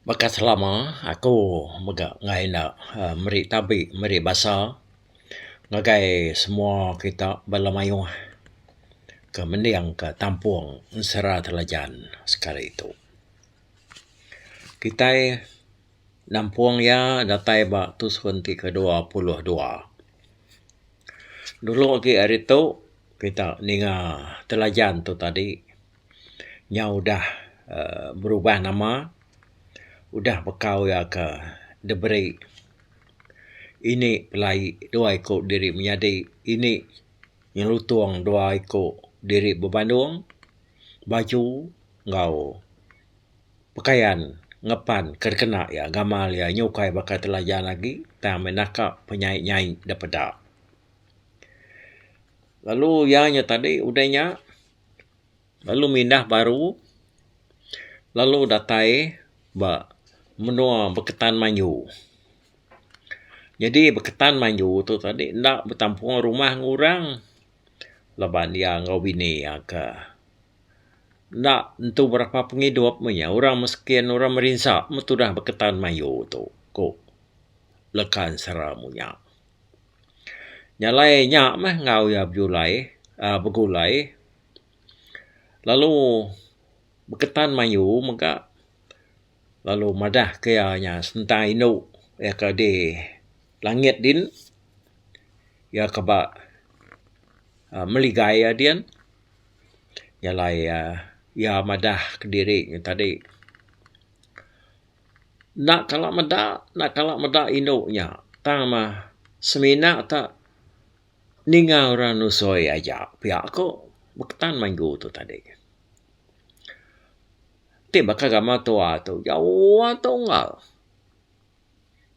Baka selama aku mega ngai enda uhh meri tabi meri basa ngagai semua kita bala mayuh ke mending ka tampung Ensera Telajan sekali tu. Kitai nampung iya datai ba tusun ti ke dua puluh dua. Dulu agi ari tu kita ninga Telajan tu tadi. nya udah uhh berubah nama, udah bekau iya ke diberi indi pelai dua iku diri menyadi indi nyelutung dua iku diri bebandong, baju enggau pekayan ngepan ke dikena iya gamal iya nyukai baka telajan agi tang meh naka penyaik-nyaik da peda. Lalu iya nya tadi udah nya. lalu mindah baru lalu datai ba menua Beketan Manyu. Nyadi Beketan Manyu tu tadi enda betampung rumah enggau orang laban iya enggau bini iya ke enda entu berapa pengidup meh iya. Orang miskin, orang merinsa meh tudah Beketan Manyu tu, ku Leka Ensera munya. Nya alai nya meh enggau iya bejulai aaa begulai lalu beketan mayu mega lalu madah ke iya nya sentai indu iya ke di langit din iya ke ba aaa meligai iya din. Nya alai aaa iya madah kediri nya tadi. enda kala meda enda kala meda indu nya tang mah semina te ninga orang nusoi aja pia ku bektan minggu tu tadi. Ti baka gamal tua tu jauh atu unggal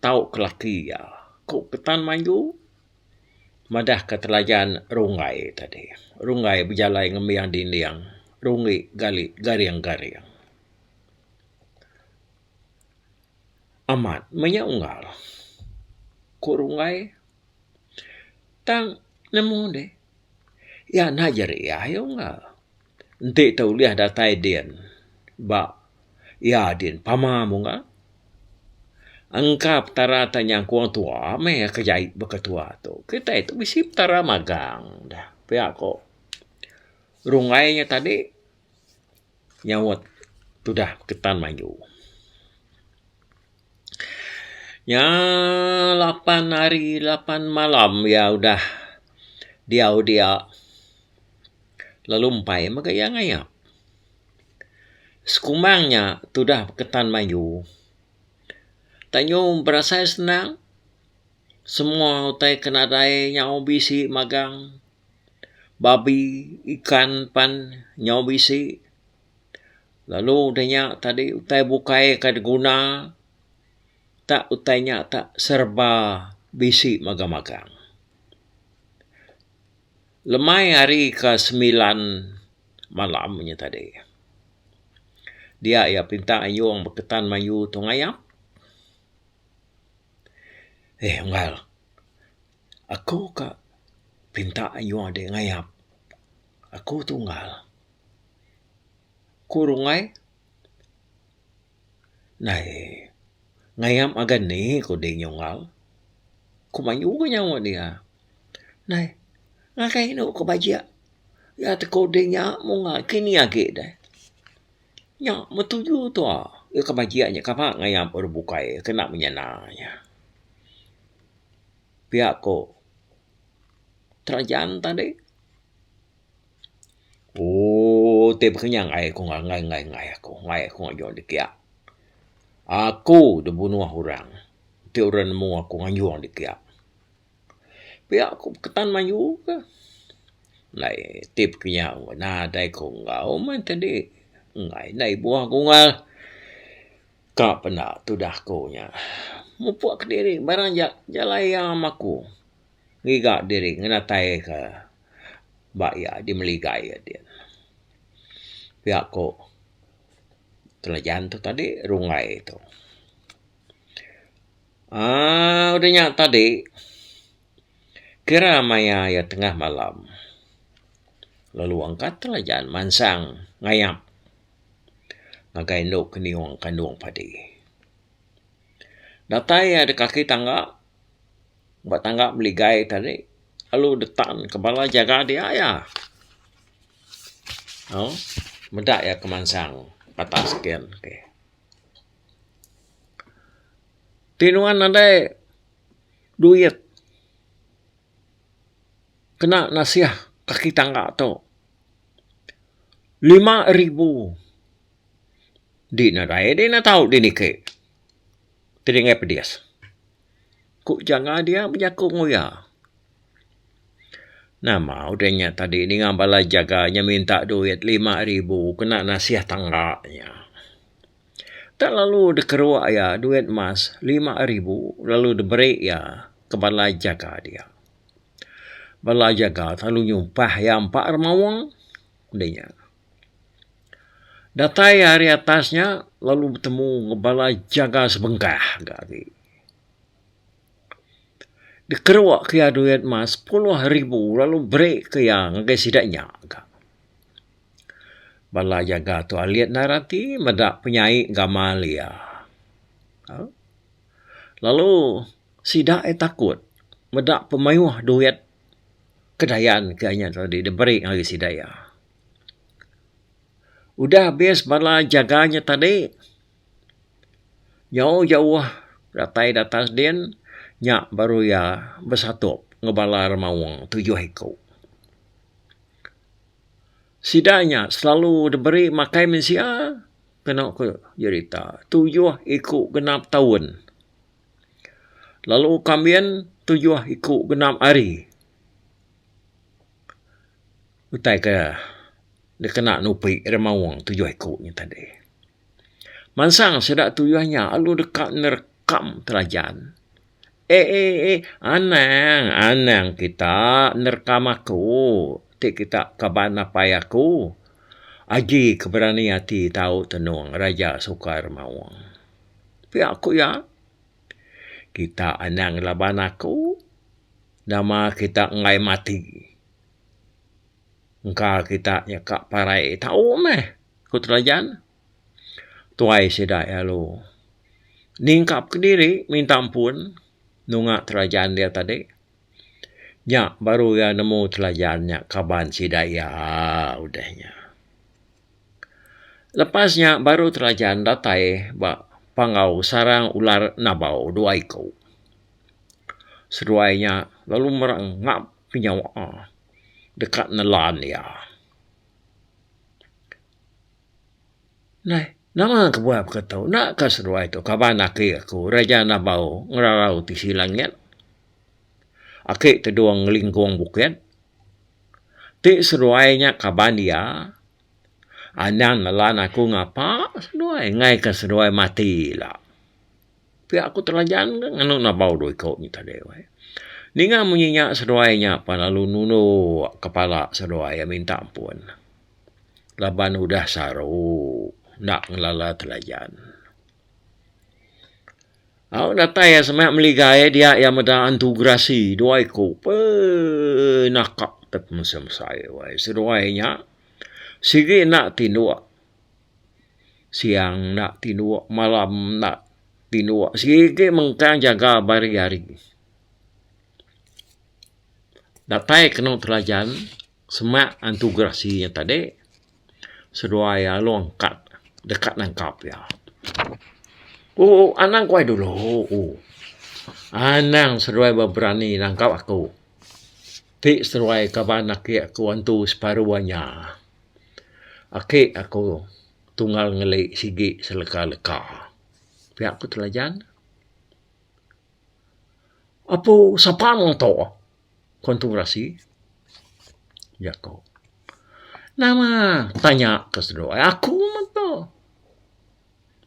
tau ke laki iya ku ketan minggu madah ke telajan runggai tadi. Runggai bejalai ngembing dinding rungi gali garing-garing. Amat maya unggal. Ku Runggai, tang nemu deh. Iya enda jeriah iya unggal. Enti tau ulih datai din ba iya din pama munggal. Engka petara ti nyangkong tuwa meh iya ke jai ba ketua tu. Kitai tu bisi petara magang dah. Pia ku Runggai nya tadi. nyaut tudah ketan mayu. Nya lapan hari lapan malam iya udah diau dia lalu empai mega iya ngayak. Sekumang nya tudah ketan mayu. Tayo berasai senang semua utai ke nadai nyau bisi magang. babi, ikan pan nyau bisi. Lalu udah nya tadi utai bukai ka diguna tak utai nya tak serba bisi magang magang. Lemai hari ka semilan malam nya tadi dia iya pinta ayung beketan mayuh tu ngayak. Eh unggal. Aku ka pinta ayu ade ngayap. Aku tunggal. Ku rungai. Nai ngayam ngagan ni ku deh nyunggal. Ku mayuh ka nyawa deh iya. Nai ngagai anu ka bajik. Iya te ku deh nya mung kini agi deh. Nya betuju tu iya ke majik nya kaba ngaya baru bukai kena menyana nya. Pia ko terajan tadi ooh ti bekenyang ai ko ngai ngai ngai ko ngai ko ngajon dik kia. Aku dibunoh orang ti orang nemu aku nganjong dik kia. Pia ku ketan mayuh ke ndai ti pekinya nadai ku enggau meh ti di enggai ndai buah gungal ka penda tudah ku nya. Mupuk kediri barang ja jalai am aku ngiga diri ngenatai ke ba iya dimeligai adin. Pia ku Telajan tu tadi rungai tu. Aa udah nya tadi kira maya iya tengah malam lalu engka telajan mansang ngayap ngagai enu keniung kandung padi. Datai iya da kaki tangga ba tangga meligai tadi lalu dep tan ka bala jaga dia iya aaa meda iya kemansang atas kian. Ti nuan nadai duit kena nasih kaki tangga tu lima ribu di nadai di ne tau di niki ti dingih pedis ku janga dia bejaku ngan uya nama udah nya tadi ninga bala jaga nya minta duit lima ribu kena nasih tangga nya. Dak lalu dikeruk iya duit emas lima ribu lalu diberi iya ke bala jaga dia. Bala jaga tu lalu nyumpah iya empa ra mawang enda nya. Datai iya ari atas nya lalu betemu ngan bala jaga sebengkah ga agi. Dikeruk ke iya duit emas sepuluh ribu lalu beri ke iya ngagai sida nya ga. Bala jaga tu alit ndai rati meda penyai gamal iya. uhh Lalu sida aye takut meda pemayuh duit kedayan ke nya tadi diberi ngagai sida iya. Udah habis bala jaga nya tadi nyau jauh datai datang din nya baru iya besatup ngan bala remaung tujuh iku. sida nya selalu diberi makai mensia kenu ku jerita tujuh iku genap taun lalu kambin tujuh iku genap hari utai ke dikena nupi ri maong tujuh iku nya tadi. Mansang sida tujuh nya lalu deka nerekam telajan. Eh eh eh anang anang kita nerkam aku ti kita kaban apai aku agi ke berani ati tau tenung raja sukar maung pia ku iya kita anang laban aku nama kita enggai mati engka kita nyeka parai tau meh ku telajan. tuai sida lalu ningkap kediri minta ampun nunga telajan dia tadi nya baru iya nemu telajan nya kaban sida iya udah nya. Lepas nya baru telajan datai ba panggau sarang ular nabau dua iku. Seduai nya lalu merengap ke nyawa deka nelan iya. Neh, nama kebuah baka tu. Enda ka seduai tu kaban aki aku Raja Nabau ngerarau tisi langit. Aki Tedong Ngelingkong Bukit. Ti seduai nya kaban iya anang nelan aku ngapa seduai ngaika seduai mati ila. Pia aku telajan ke nganu nebau dua iko nyi tadi weh. Ninga munyi nya seduai nya pa lalu nunu kepala seduai iya minta ampun. Laban udah saru enda ngelala telajan. Au datai iya sema meli gai dia iya meda antu gerasi dua iko pe naka tep mesem sai weh. Seduai nya sigi enda tinduk Siang enda tinuk, malam enda tinuk. Sigi mengkang jaga ba hari-hari. Datai kenu telajan semak antu gerasi iya tadi seduai alung kad deka nangkap iya. Ooh anang ku ai dulu ooh. Anang seduai berani nangkap aku. Ti seduai kaban aki aku antu separuh inya. Aki aku tunggal ngeli sigi seleka leka. Pia ku Telajan. Apu sapa meng tu? ku Entung Rasi. Jaku. Nama tanya ke seduai aku meng tu.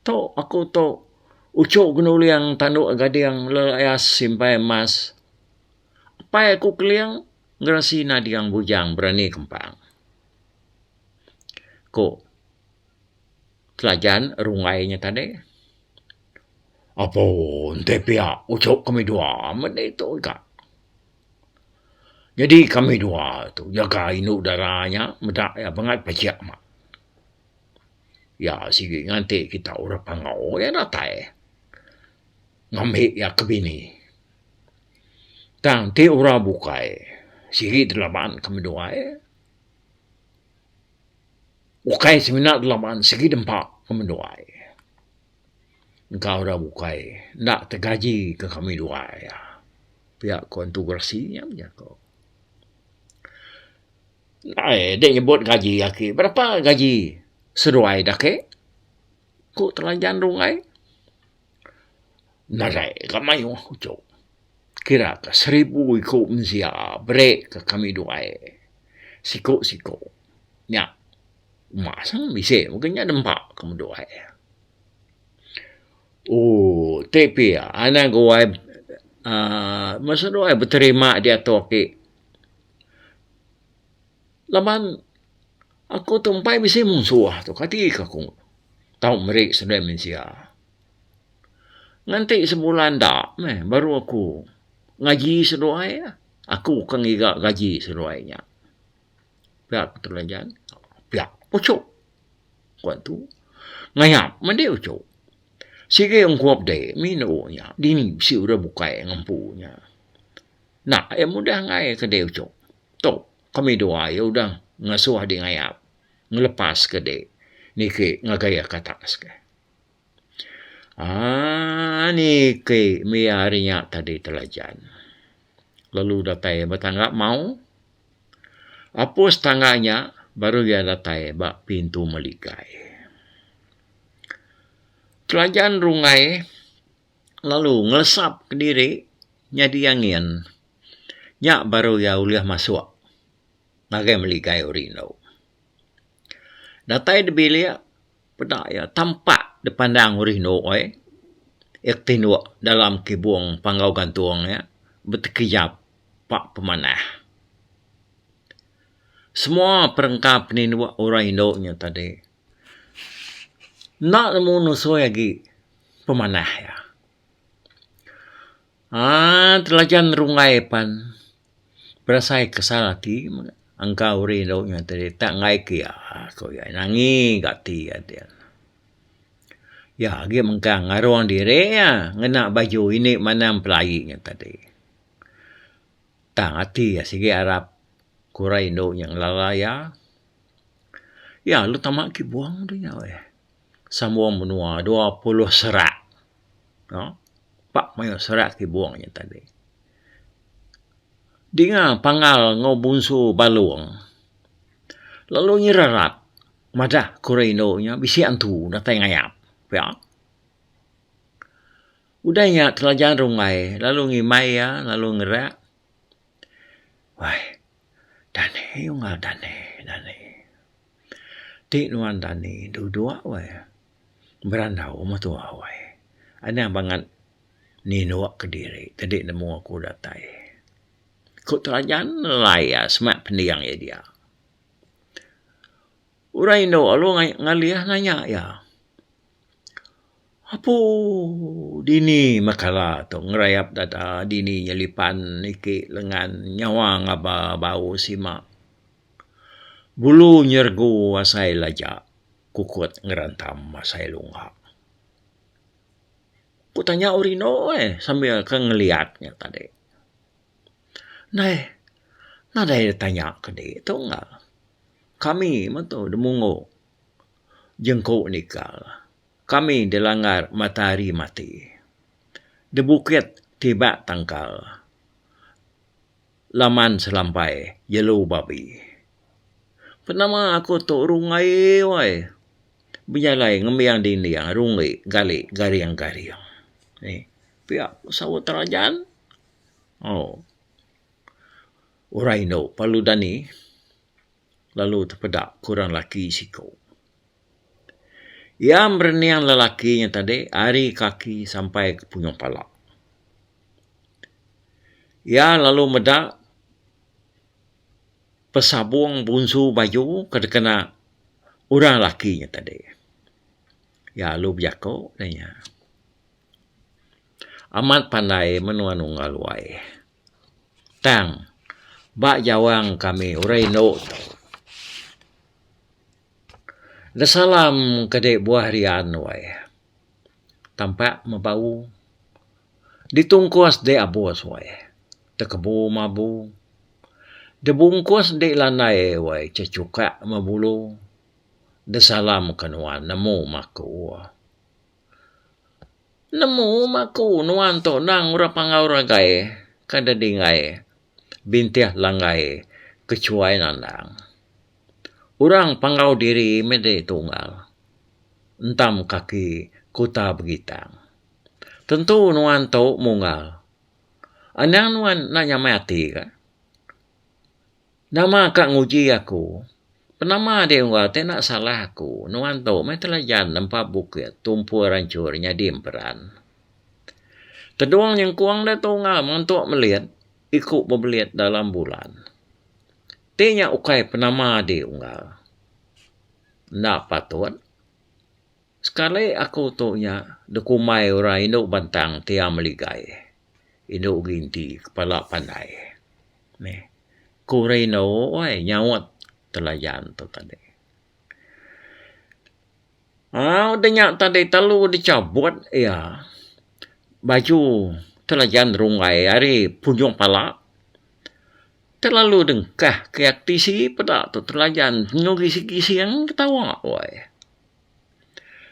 Tu aku tu uchu genuling tandu gading lelaias simpai emas. Apai aku keling. Ngerasi nading bujang berani kempang. Ku Telajan runggai nya tadi. Apo enti pia uchup kami dua meh ditu ka. Nyadi kami dua tu nyaga indu dara nya meda iya bangat pejek mak. Iya sigi nganti kita orang Pangau iya datai ngambi iya ke bini. Tang ti orang bukai sigi dalaban ke meduai. Ukai semina dalaban sigi dempa ke meduai. Engka orang bukai enda tegaji ke kami duai. Pia ko Entu Gerasi nya mejak ko. Ai deh nyebut gaji aki berapa gaji seduai da ake? Ku Telajan Runggai. Nadai ka mayuh uchu. Kira ka seribu iku mensia bere ka kami duai siku siku nya uma sang bisi mega nya nempa ke duai. Ooh ti pia anak guai aaa masa duai beterima diatu aki. laban aku tu empai bisi munsuh tu kati ke aku tau meri sebilan mensia. Nganti sebulan enda meh baru aku ngaji seduai iya. Aku ke ngiga gaji seduai inya. Pia ku Tulan Jan, pia uchu. Kuan tu, ngayap meh dih uchu. Sigi ungkup dih mih neu inya. Dini bisi urang bukai ngempu inya. Nak iya mudah angai ke dih uchu. Tu. Kami dua iya udah ngasuh di ngayap ngelepas ke di niki ngagai iya ke atas ke. Ah niki mia hari nya tadi telajan. Lalu datai ba tangga mau. Apus tangga nya baru iya datai ba pintu meligai. Telajan rungai. lalu ngelesap kediri nyadi angin nya baru iya ulih masuk ngagai meli gayuh rindu. Datai dibilik peda iya tampak dipandang urih endo ai iya ketinduk dalam kibung panggau gantung iya betekejap pak pemanah. Semua perengka peninduk orang indu nya tadi. Enda nemu nusoi agi pemanah iya. Aaa telajan runggai pan berasai kesal ati mega engka uri enda nyau ti diri tak enggai ke iya ko iya nangi ga ati iya dia. Iya agi mengkang ngarung diri iya ngena baju indi manang pelai nya tadi. Tang ati iya sigi arap ko rai enda ngelala iya. Iya lu tama ki buang ri nya weh sambung menua dua puluh serak no pak mayuh serak ti buang nya tadi. Dinga pangal enggau bunsu Balong lalu nyerarat madah ku ra indu nya bisi antu datai ngayap pia. Udah nya telajan runggai lalu ngimbai iya lalu ngerak wai Dani ungal dani dani. Ti nuan dani dudok weh berandau meh tuwa weh. Anang bangat ninok kediri tadi nemu aku datai. Ku telajan nelai iya semak pending iya dia. Orang indu lalu ngalih nanya iya. Apu dini meh kala tu ngerayap dada dini nyelipan niki lengan nyawa ngaba bau sima. Bulu nyergu asai laja kukut ngerantam asai lunga. Ku tanya uri eno eh sambil ke ngeliat nya tadi. Neh nadai tanya kadi tu enggau kami meh tu demunggu. jengku nikal kami dilanggar matahari mati debukit tiba tangkal laman selampai jelu babi. Penama aku tu rungai wai bejalai ngembiang dinding rungi gali garing garing ni pia saut terajan um orang indu perlu dani. lalu tepeda ku orang lelaki siko. Iya merening lelaki nya tadi ari kaki sampai ke punyuh pala. Iya lalu meda pesabong bunsu baju ke dikena orang lelaki nya tadi. Iya lalu bejako nya, Amat pandai menua nunggal wai. Tang, ba jawang kami orang indu tu, Desalam ke dek buah rian nuai. Tampak meh bau. Ditungkus dek abus wai. Tekebu meh abu. Debungkus dek landai wai cecukak meh bulu. Desalam ke nuan nemu meh aku. Nemu maku nuan tu endang orang pangau ragai ke da dingai bintih langgai ke chuai nandang. Orang pangau diri meh dai tunggal entam kaki kuta begitang. Tentu nuan tu munggal. Anang nuan enda nyamai ati ka. Nama ka nguji aku? Penama deh enggau te enda salah aku. Nuan tu meh telajan nempa bukit tumpul ranchur nyadi emperan. Tedung nyengkung deh tu enggau mantuk melit iku bebelit dalam bulan. Ti nya ukai penama deh enggau. Enda patut. Sekali aku tu nya dikumbai orang indu bentang ti ameligai, indu ginti kepala pandai. Meh ku rino wai nyaut telayan tu tadi. Au da nya tadi telu dichabut iya baju telayan runggai ari punyoh pala telalu dengkah kiat tisi peda tu telayan nyu gisi-gising ketawa wai.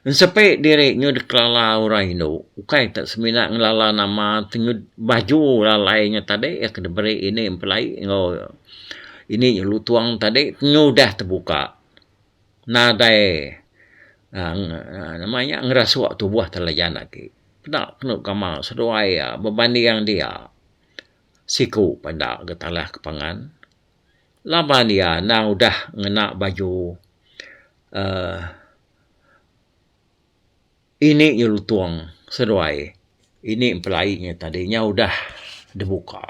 Ensepi diri nyu dikelala orang indu ukai ka semina ngelala nama tenget baju lalai nya tadi iya ke diberi ini empelai enggau ini nyu lutong tadi nyu udah tebuka nadai aaa nama nya ngerasuk tubuh telajan agi. Peda kenu gamal seduai iya bebanding dia siku peda getalak ke pangan. laban iya endang udah ngena baju uhh ini nyelutong seduai ini empelai nya tadi nya udah dibuka.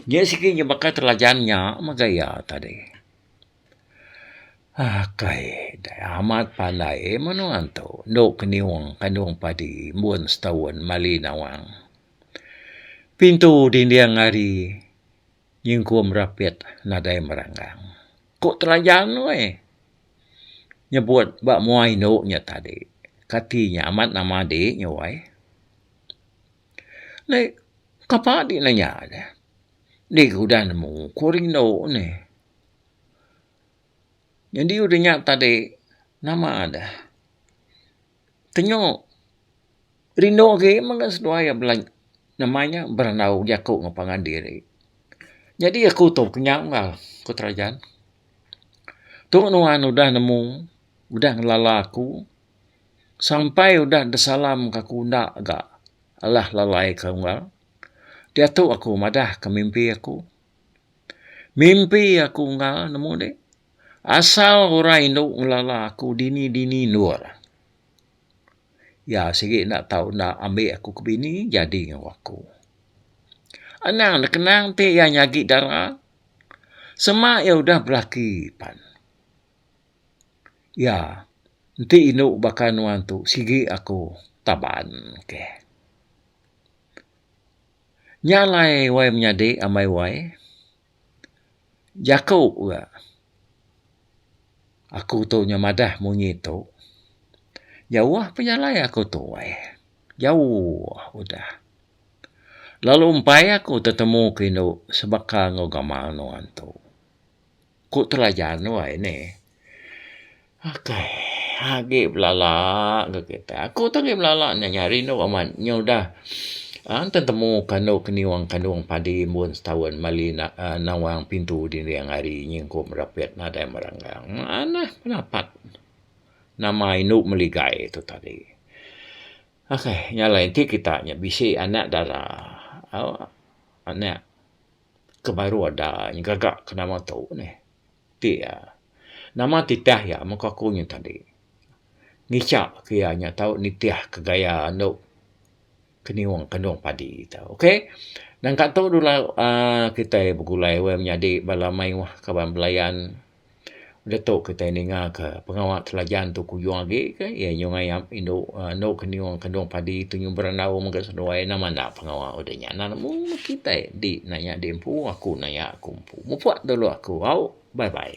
Nya siti nya baka telajan nya mega iya tadi. Akai dei amat pandai menua tu endu kenyung kandung padi embun setaun mali nawang. Pintu dinding ari Nyingkum rapit nadai meranggang. Ku Telajan nuai nyebut ba mua indu nya tadi. Kati nya amat nama di nya wai. Nai kapa di nanya ne. Di ke udah nemu ku rindu ne. Nyadi udah nya tadi nama deh. tenyo rindu agi mega seduai iya bela nama nya berandau jaku enggau pangan diri. Nyadi aku tu kenyau enggau iya ku Terajan. Tu nuan udah nemu udah ngelala aku sampai udah disalam ka aku enda ga alah lalai ka enggau iya. Diatu aku madah ka mimpi aku. Mimpi aku enggau nemu dik. Asal orang indu ngelala aku dini dini endor. Iya sigi enda tau enda ambi aku ke bini jadi enggau aku. Anang ne kenang ti iya nyagi dara. Sema iya udah belaki pan. Iya enti indu baka nuan tu sigi aku taban. Okay. Nya alai wai menyadi amai wai jaku ga aku tu nya madah munyi tu jauh pa jalai aku tu wai jauh udah lalu empai aku tetemu ku indu sebaka enggau gamal nuan tu. Ku Telajan nuai ne. Akai agi belala enggau kitai. Aku tu agi belala nya nya rindu amat nya udah aang tetemu kandu keniung kandung padi embun setaun mali nawang pintu dinding ari nyingkup rapit nadai merenggang. Manah penapat nama indu meligai tu tadi. Akai nya alai enti kita nya bisi anak dara aaa anak. ke baru ada nya gaga ke nama tu neh ti iya nama titah iya muka aku nya tadi ngicha ke iya nya tau nitih ke gaya anu keniung kandung padi tu okay nangka tu dulu uhh kitai begulai wang menyadi bala mayuh kaban belayan. Udah tu kitai ninga ka pengawa Telajan tu kuyung agi ka iya nyau ngayap indu uhh endu ka nyau kandung padi tu nyumber andau mega seduai nama enda pengawa udah nya nan mung mung kitai di naya di empu aku naya aku empu. Mupok dulu aku au bye bye.